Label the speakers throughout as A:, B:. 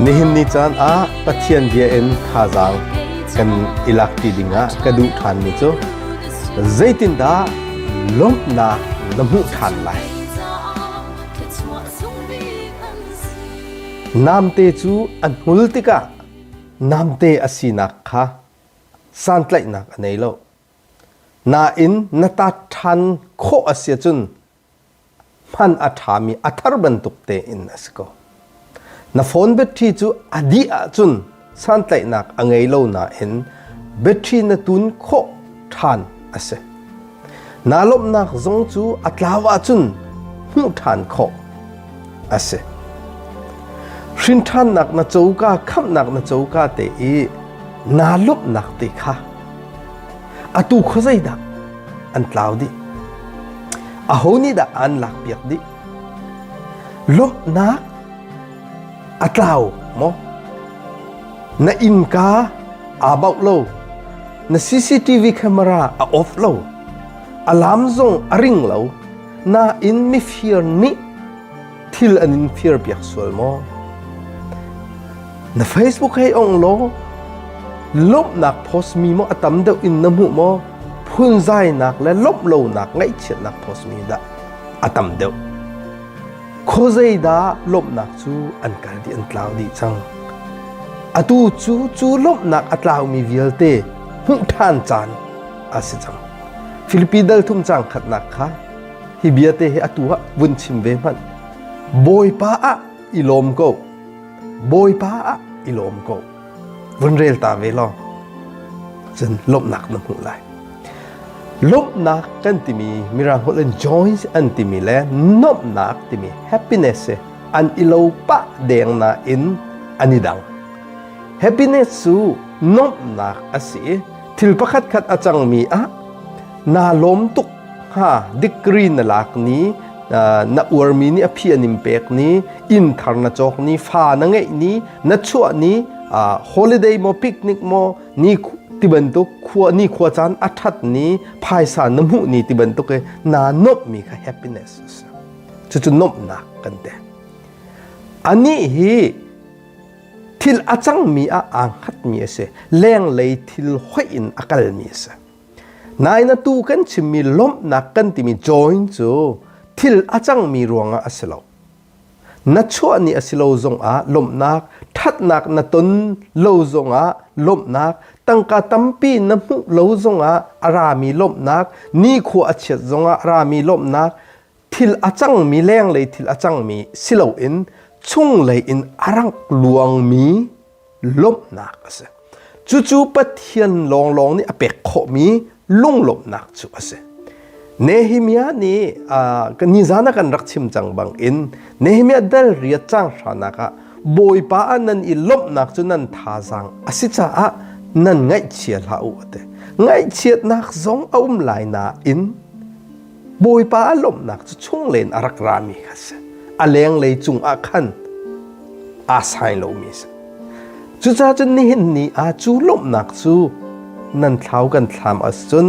A: Nihin ni caan ah Pathian bia in thazaang kan i lakṭi dingah ka duh ṭhanmi cu zeitindah lawmhnak na hmuh ṭhan lai? Namte cu an hmul tikah namte a sinak kha santlaihnak a nei lo. Nain na tat ṭhan khawh a si ahcun hman a ṭhami a thar bantuk tein a si ko. Na phone battery cu a dih ahcun santlaihnak a ngei lo nain battery na tun khawh ṭhan a si. Naa lawmhnak zong cu a tlau ahcun hmuh ṭhan khawh a si. Hrinthannak na coka, khamhnak na coka te i naa lawmhnak te kha atu khuazei dah an tlau dih? Aho nih dah aan lakpiak dih? Lawmhnak A tlau maw? Na innka aa bauh lo. Na CCTV camera a off lo. Alarm zong a ring lo. Nain mifir nih thil an in firpiak sual maw? Na Facebook hei ong law lawmhnak post mi maw a tam deuh in na hmuh maw? Phunzainak le lawmh lonak ngaihchiatnak post mi dah a tam deuh? Khuazei dah lawmhnak cu an kal dih an tlau dih cang. Atu cu cu lawmhnak a tlaumi vialte hmuh ṭhan caan a si cang. Filipi dal thum caang khatnak kha hi bia te hi atu ah vun chim ve hmanh. Bawipa ah i lawm ko. Bawipa ah i lawm ko. vun rel ta ve law cun lawmhnak na hmuh lai lawmhnak kan timi mirang holh in joy an timi le nuamhnak timi happiness hi an ilo pah deng na in an i dang happiness cu nuamhnak a si thil pakhat khat a cangmi ah naa lawm tuk kha degree na lak ni na uarmi ni a phi an in pek ni inn thar na cawk ni fa na ngeih ni na chuah ni holiday mo picnic mo ni ti bantuk khua ni khua caan a that ni phaisa na mu ni ti bantuk e na nop mi kha happiness chu chu nop nak kan te ani hi thil a cang mi a ang khat mi ase leng lei thil hoi in akal mi ase Nain atu kan chimmi lawmhnak kan timi join cu thil a cangmi ruangah a si lo. Na chuah ni a si lo zongah lawmhnak, ṭhatnak na ton lo zongah lawmhnak, tangka tampi na hmuh lo zongah a rami lawmhnak, nikhua a chiat zongah a rami lawmhnak, thil a cangmi lenglei thil a cangmi si loin chunglei in a rangh luangmi lawmhnak a si cucu pathian lawnglawng nih a pek khawhmi lunglawmhnak cu a si Nehemiah nih nizan ah kan rak chim cang bangin Nehemiah dal riat cang hranak ah Bawipa ah nan i lawmhnak cu nan thazaang a si caah nan ngaihchia hlah u a ti ngaihchiatnak zong a um lai nain Bawipa a lawmhnak cu chunglen a rak rami kha si. A lenglei cungah khan aa sai lomi a si. Cucaah cun nihin ni ah cu lawmhnak cu nan thlau kan thlam a si cun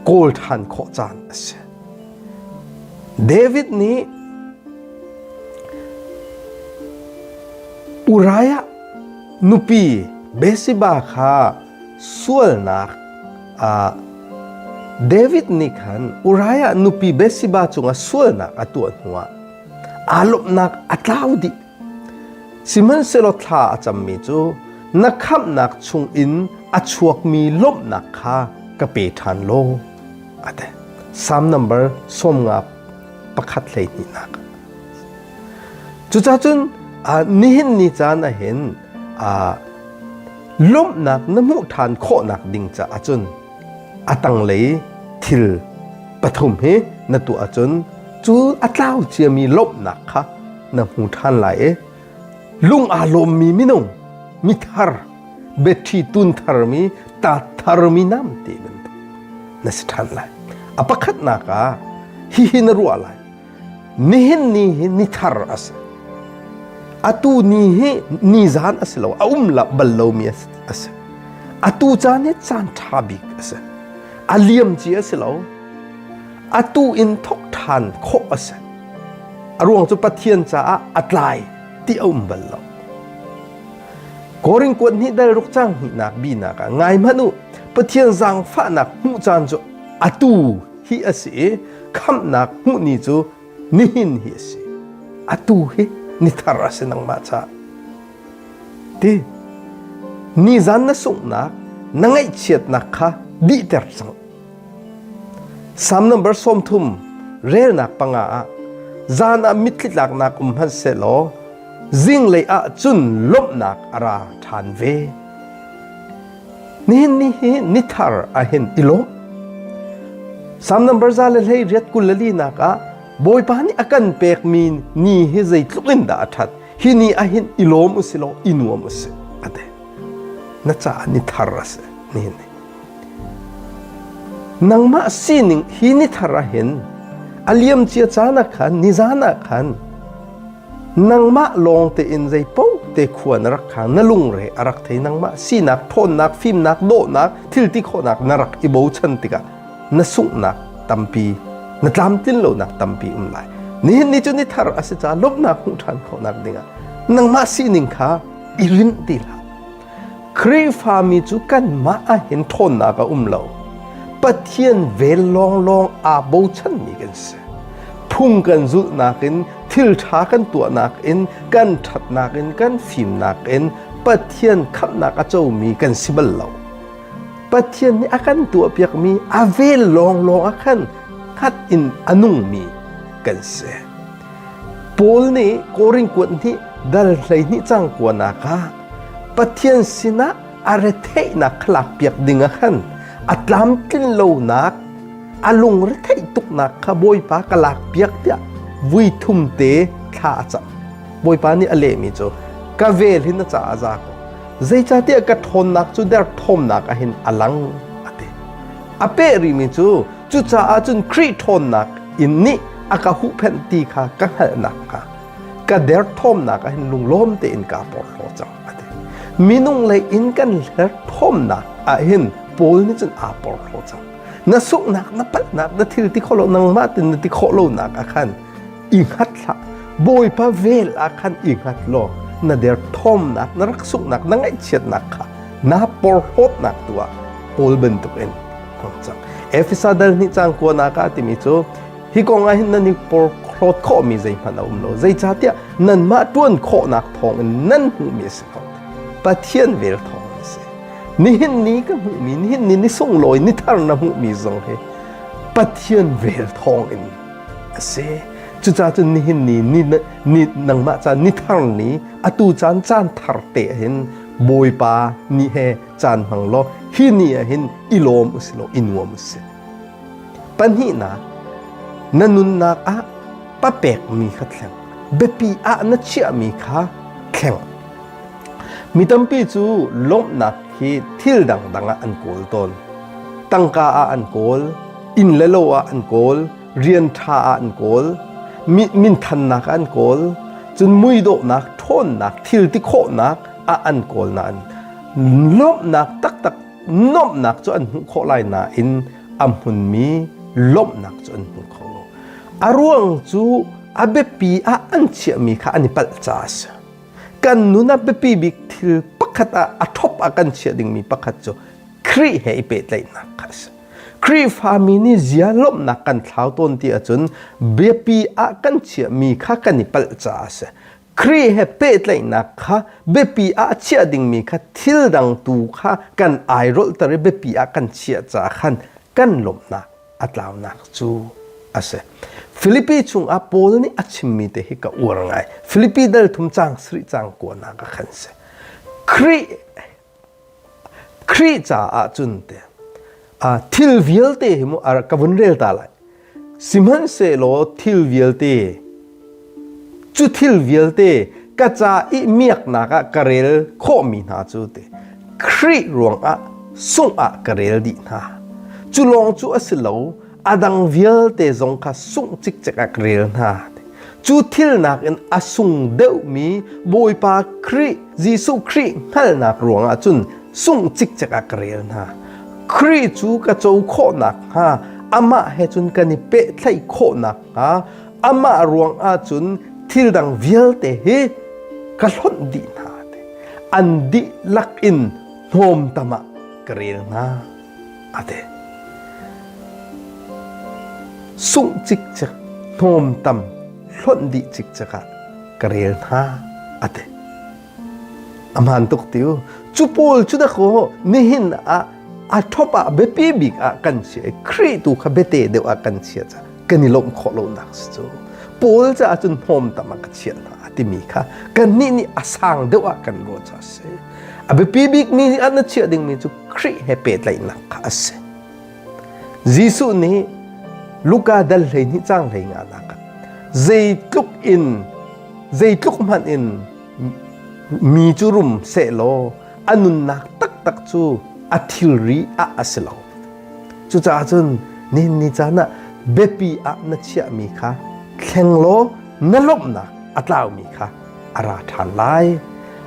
A: kawl ṭhan khawh caan a si. David nih Uriah nupi Bathsheba kha Sualnak ah David nih khan Uriah nupi Bathsheba cungah sualnak a tuah hnuah aa lawmhnak a tlau dih. Sihmanhsehlaw thla a cammi cu na khamhnak chungin a chuakmi lawmhnak kha ka pe ṭhan law, a ti. Salm number sawmnga pakhat hleihnihnak. Cucacun nihin ni caan ah hin Lawmhnak na hmuh ṭhan khawhnak ding caah cun a tanglei thil pathum hi na tuah ahcun cu a tlau ciami lawmhnak kha na hmu ṭhan lai i lung aa lawmmi minung mithar biaṭhi tun tharmi tat tharmi nam te bantuk na si ṭhan lai a pakhatnak ah hihi na ruah lai nihin ni hi ni thar a si atu ni hi ni zan a si lo a um la bal lomi a si atu caan hi caan ṭha bik a si a liam ci a si lo atu in thok ṭhan khawh a si a ruang cu pathian caah a tlai ti a um bal lo korin kuat ni dal ruk cang hnih nak bi nak ah ngai manu pathian zangfahnak hmuh caan cu atu hi a si i khamhnak hmuh ni cu nihin hi a si atu hi ni thar a si nangmah ca ti ni zan na sunghnak na ngaihchiatnak kha dihter cang Psalm number sawmthum relnak panga ah zan ah mitthlitlaknak um hman selaw zinglei ah cun lawmhnak a ra ṭhan ve Nihin ni hi nithar ahin i lawm. Sam number za le hlei riat kul le linak ah Bawipa nih a kan pekmi ni hi zeitluk in dah a ṭhat. Hi ni ahin i lawm u si law i nuam u si a ti. Na caah ni thar a si nihin ni. Nangmah sining hi ni thar ahin a liam cia caan ah khan ni zan ah khan Nangmah lawng tein zeipaoh te khua na rak kha na lungre a rak thei nangmah sinak ṭhawnnak fimnak dawhnak thilti khawhnak na rak i bochan tikah na sunghnak tampi na tlamtlin lonak tampi um lai nihin ni cu ni thar a si caah lawmhnak hmuh ṭhan khawhnak dingah nangmah sining kha i rinh ti hlah Khrihfami cu kanmah ah hin ṭhawnnak a um lo. Pathian vel lawnglawng aa bochanmi kan si. Phung kan zulhnak in, thilṭha kan tuahnak in, kan ṭhatnak in, kan fimnak in Pathian khamhnak a comi kan si bal lo. Pathian nih a kan tuahpiakmi a vel lawnglawng ah khan hngat in a nungmi kan si. Paul nih Korinth kuat hnih dal hleihnih cang kuanak ah Pathian sinah a retheihnak kha lakpiak dingah khan a tlamtlin lonak a lungretheih tuknak kha Bawipa ka lakpiak tiah vui thumte thla a cam. Bawipa nih a lehmi cu ka vel hi na caah za ko. Zeicahtiah ka ṭhawnnak cu derthawmnak ah hin a lang a ti. A peh rihmi cu cucaah cun Khrih ṭhawnnak in nih a ka huhphenh ti kha ka hngalh nakhnga ka derthawmnak ah hin lunglawm tein kaa porhlaw cang a ti. Minung lei in kan hlerthawmnak ah hin Paul nih cun aa porhlaw cang. Na sunghnak na palhnak na thil ti khawh lo nangmah tin na ti khawh lonak ah khan i hngat hlah bawipa vel ah khan i hngat law na derthawmnak na rak sunghnak na ngaihchiatnak kha na porhlawtnak tu ah paul bantukin hmang cang efesa dal nih cang kuana ka timi cu hi kong ah hin nan i porhlawt khawhmi zeihmanh a um lo zeicahtiah nanmah ṭuan khawhnak thawngin nan hmuhmi a si ko pathian vel thawng a si nihin ni ka hmuhmi nihin ni ni sunglawi ni thar na hmuhmi zong hi pathian vel thawngin a si cucacun nihin ni, ni ni nangmah caan ni thar ni atu caan caan thar te ahin bawipa ni he caan hmang law hi ni ahin i lawm usi law i nuam usi pahnihnak na nunnak ah papekmi kha thleng biapi ah na chiahmi kha thleng mi tampi cu lawmhnak hi thil dangdang ah an kawl tawn tangka ah an kawl inn le lo ah an kawl, rian ṭha ah an kawl, minthannak ah an kawl, cun muidawhnak, ṭhawnnak, thilti khawhnak ah an kawl nain lawmhnak taktak nuamhnak cu an hmuh khawh lai nain a hmunmi lawmhnak cu an hmu kho lo. A ruang cu a biapi ah an chiahmi kha an i palh caah a si. Kan nun a biapi bik thil pakhat ah a thop ah kan chiah dingmi pakhat cu Khrih he i pehtlaihnak kha a si. Khrihfami nih zia lawmhnak kan thlau tawn ti ahcun biapi ah kan chiahmi kha kan i palh caah a si. Khrih he pehtlaihnak kha biapi ah chiah dingmi kha thil dang tu kha kan airolhter i biapi ah kan chiah caah khan kan lawmhnak a tlaunak cu a si. Filipi chungah Paul nih a chimmi te hi ka uar ngai. Filipi dal thum cang sarih cang kuanak a kan si. Khrih Khrih caah cun te thil vialte hi mu ar ka vun rel ta lai sihmanhsehlaw thil vialte cu thil vialte ka ca i miaknak ah ka rel khawhmi hna cu te Khrih ruangah sungh ah ka rel dih hna cu lawng cu a si lo a dang vialte zong kha sungh cikcek a ka rel hna cu thil nakin a sung deuhmi Bawipa Khrih Jesuh Khrih hngalhnak ruangah cun sungh cikcek a ka rel hna Khrih cu ka co khawhnak hnga amah he cun kan i pehthlaih khawhnak hnga amah ruangah cun thil dang vialte hi ka hlonh dih hna an dihlak in hnawm tamah ka rel hna a ti. Sungh cikcek hnawm tam hlonh dih cikcek ah ka rel hna a ti. A hmaan tuk tiu. Cu pawl cu da kaw nihin ah a thop ah biapi bik ah kan si i Khrih tu kha biate deuh ah kan chia ca kan i lomh khawh lo nak si cu. Paul ca ahcun hnawm tam ah ka chiah hna a timi kha kan nih nih a sang deuh ah kan ruah ca a si. A biapi bik mi nih an na chiah dingmi cu Khrih he pehtlaihnak kha a si. Jesuh nih Luka dal hleihnih cang hleingah nak zeitluk in zeitluk hmanh in mi cu rum sehlaw a nunnak taktak cu a thilri ah a si lo. Cucaah cun nihin ni caan ah biapi ah na chiahmi kha thleng law na lawmhnak a tlaumi kha a ra ṭhan lai.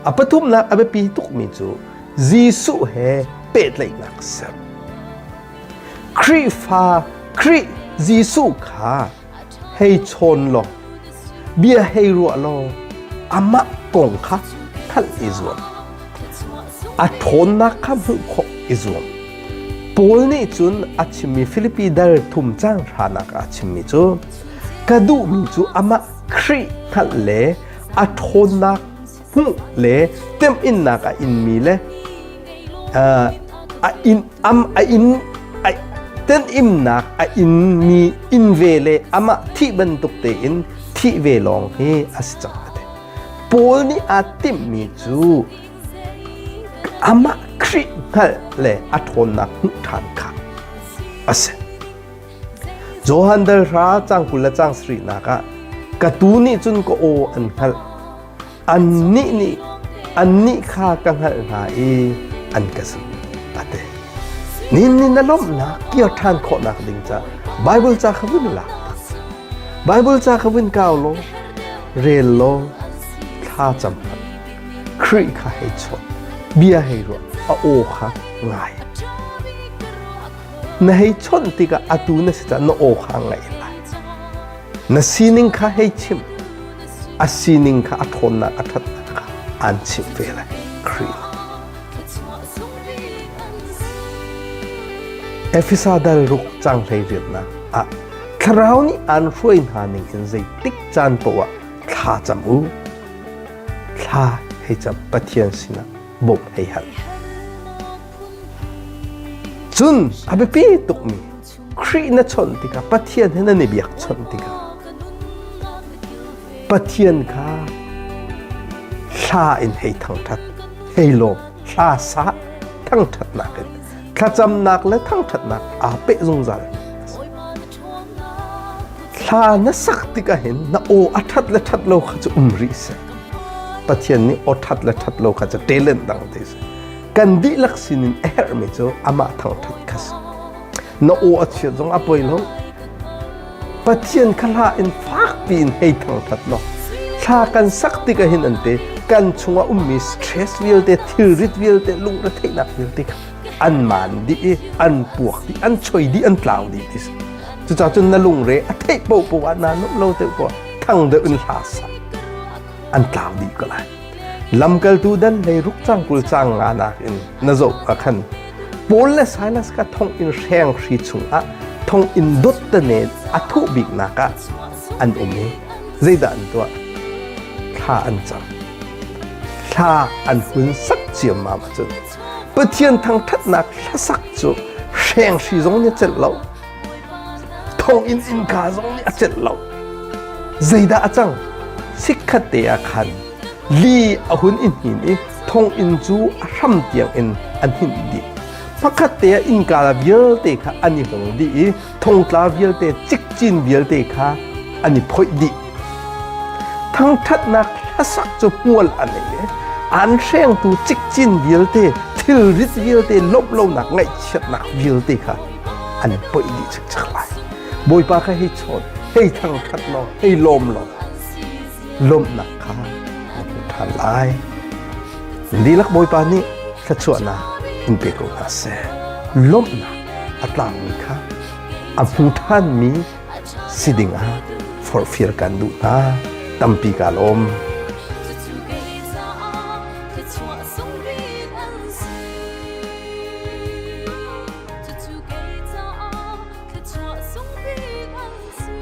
A: A pathumnak a biapi tukmi cu Jesuh he pehtlaihnak a ser. Khrihfa Khrih Jesuh kha hei chawn law, bia hei ruah law, amah kong kha thanh i zuam. A ṭhawnnak kha hmuh khawh i zuam. Paul nih cun a chimmi Filipi dal thum cang hranak ah a chimmi cu, ka duhmi cu amah Khrih hngalh le a ṭhawnnak hmuh le temhinnak a inmi le a in am a in a tenhimnak a inmi in ve le amah thih bantuk tein thih ve lawng hi a si cang te Paul nih aa timhmi cu amah Khrih hngalh le a ṭhawnnak hmuh ṭhan kha a si Johan dal hra cang kul le cang sarih nak ah ka tu nih cun ka aw an hngalh annih nih annih kha ka hngalh hna i an ka sim a ti nin nin a lawmhnak kir ṭhan khawhnak ding ca Bible ca kha vun lak Bible ca kha vun kau law rel law thla cam hmanh Khrih kha hei chuah bia hei ruah a aw kha ngai na hei chawnh tikah atu na si caah na oha ngai lai na sining kha hei chim a sining kha a ṭhawnnak a ṭhatnak kha aan chimh ve lai Khrih Efesa dal ruk cang hlei riatnak ah thlarau nih aan hruai hna ning in zeitik caan poah thla cam u thla hei cam pathian sinah bawmh hei hal Cun a biapi tukmi Khrih na chawnh tikah Pathian he nan i biakchawnh tikah Pathian kha hla in hei thangṭhat, hei lawm, hla sa thangṭhatnak in thlacamnak le thangṭhatnak aa peh zungzal. Hla na sak tikah hin na aw a ṭhat le ṭhat lo kha cu um rih seh. Pathian nih aw ṭhat le ṭhat lo kha cu ṭelen dang te seh. kan dihlak sinin a herhmi cu amah thangṭhat kha si na aw a chia zong a poi lo pathian kha hla in fak piin hei thangṭhat law thla kan sak tik ahin ante kan chungah ummi stress vialte thilrit vialte lungretheihnak vialte kha an man dih i an puak dih an choi dih an tlau dih ti si cucah cun na lungre a theih po po ah na nup lo te po thang deuh in hla sa an tlau dih ko lai lamkaltu dan hlei ruk cang kul cang nga nak in na zo ka khan Paul le Silas ka thong in hreng hri chungah thong in dot te ne athu bik naka an um ni zeida an tua thla an chang thla an hun sak chiam ma ma chu pathian thang that nak hlasak chu hreng hri zong ni chet lo thonginn innka zong nih a celh lo zeidah a cang sikhat te ah khan li a hun in hin i thonginn cu a hram tiang in an hin dih pakhat te ah innka vialte kha an i hong dih i thongtla vialte cikcin vialte kha an i phoih dih thangṭhatnak hlasak cu hmual an ei an hrengtu cikcin vialte thilrit vialte lawmh lonak ngaihchiatnak vialte kha an poih dih cikcek lai bawipa kha hi chawn hei thangthat law hei lawm law lawmhnak kha na hmu ṭhan lai lilak bawipa nih thluachuahnak in pe ko hna seh lawmhnak a tlangmi kha a hmu ṭhanmi si dingah forfir kan duh hna tampi ka lawm Cucu kei caah thluachuah sung bik an si.